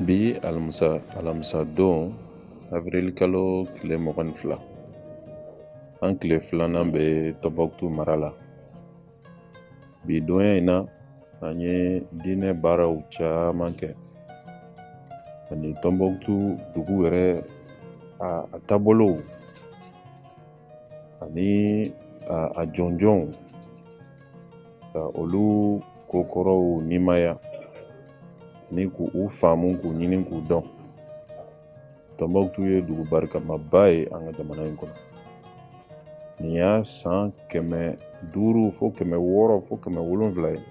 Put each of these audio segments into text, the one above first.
bi alamisa don avril kalo tile mugan ni fila an tile filanan bɛ tɔnbɔkutu mara la bi donya in na an ye diinɛ baaraw caman kɛ ani tɔnbɔkutu dugu yɛrɛ a taabolow ani a jɔnjɔnw ka olu ko kɔrɔw nimaya ni k'u faamu k'u ɲini k'u dɔn tɔnbɔkutu ye dugu barikamaba ye an ka jamana in kɔnɔ nin y'a san kɛmɛ duuru fo kɛmɛ wɔɔrɔ fo kɛmɛ wolonwula ye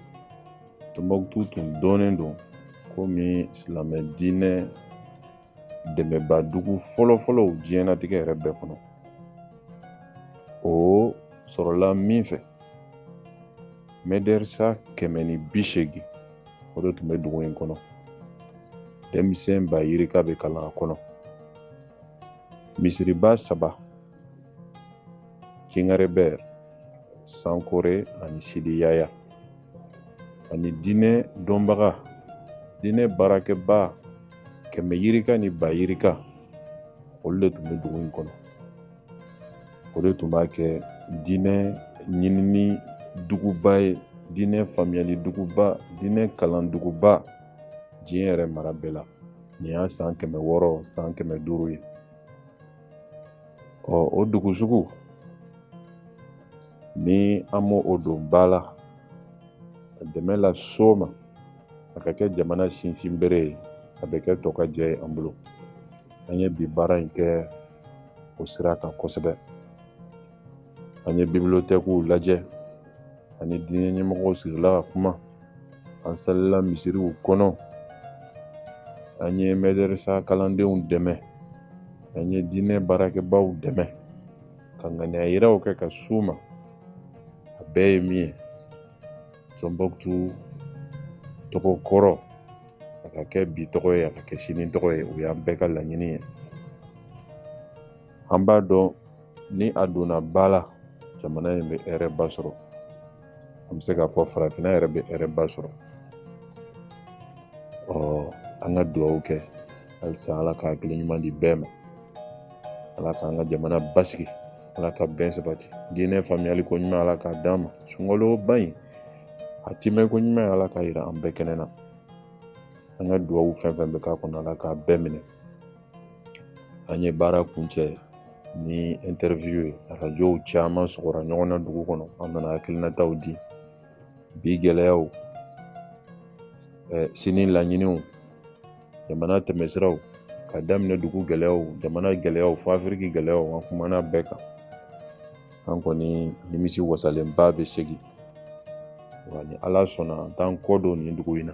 tɔnbɔkutu tun dɔnnen don komi silamɛ diinɛ dɛmɛba dugu fɔlɔfɔlɔw diɲɛnatigɛ yɛrɛ bɛɛ kɔnɔ o sɔrɔla min fɛ mɛdɛrisa kɛmɛ ni bi seegin o de tun bɛ dugu in kɔnɔ denmisɛn ba yirika bɛ kalan a kɔnɔ misiriba saba jingarebɛr sankore ani sidi yaya ani diinɛ dɔnbaga diinɛ baarakɛba kɛmɛ yirika ni ba yirika olu de tun bɛ dugu in kɔnɔ o de tun b'a kɛ diinɛ ɲinini duguba ye diinɛ faamuyali duguba diinɛ kalan duguba diɲɛ yɛrɛ mara bɛɛ la nin y'a san kɛmɛ wɔɔrɔ san kɛmɛ duuru ye ɔ o dugu sugu ni an m'o don ba la ka dɛmɛ las'o ma a ka kɛ jamana sinsinbere ye a bɛ kɛ tɔkajɛ ye an bolo an ye bi baara in kɛ o sira kan kosɛbɛ an ye bibilotɛkiw lajɛ an ni diinɛ ɲɛmɔgɔw sigila ka kuma an salila misiriw kɔnɔ an ye mɛdɛrɛsa kalandenw dɛmɛ an ye diinɛ baarakɛbaw dɛmɛ ka ŋaniya yiraw kɛ ka s'u ma a bɛɛ ye min ye tɔnbɔkutu tɔgɔ kɔrɔ a ka kɛ bi tɔgɔ ye a ka kɛ sini tɔgɔ ye o y'an bɛɛ ka laɲini ye an b'a dɔn ni a donna ba la jamana in bɛ hɛrɛba sɔrɔ an bɛ se k'a fɔ farafinna yɛrɛ bɛ hɛrɛba sɔrɔ ɔ an ka dugawu kɛ halisa ala ka hakili ɲuman di bɛɛ ma ala k'an ka jamana basigi ala ka bɛn sabati diinɛ faamuyali ko ɲuman ala k'a d'an ma sunkalo ba in a timɛ ko ɲuman ala k'a yira an bɛɛ kɛnɛ na an ka dugawu fɛn fɛn bɛ k'a kɔnɔ ala k'a bɛɛ minɛ an ye baara kuncɛ ni interview ye arajow caman sɔgɔra ɲɔgɔn na dugu kɔnɔ an nana hakilinataw di bi gɛlɛyaw eh, sini laɲiniw jamana tɛmɛsiraw ka daminɛ dugu gɛlɛyaw jamana gɛlɛyaw fo afiriki gɛlɛyaw an kumana bɛɛ kan an kɔni nimisi wasalenba bɛ segin wa ni ala sɔnna an t'an kɔ don nin dugu in na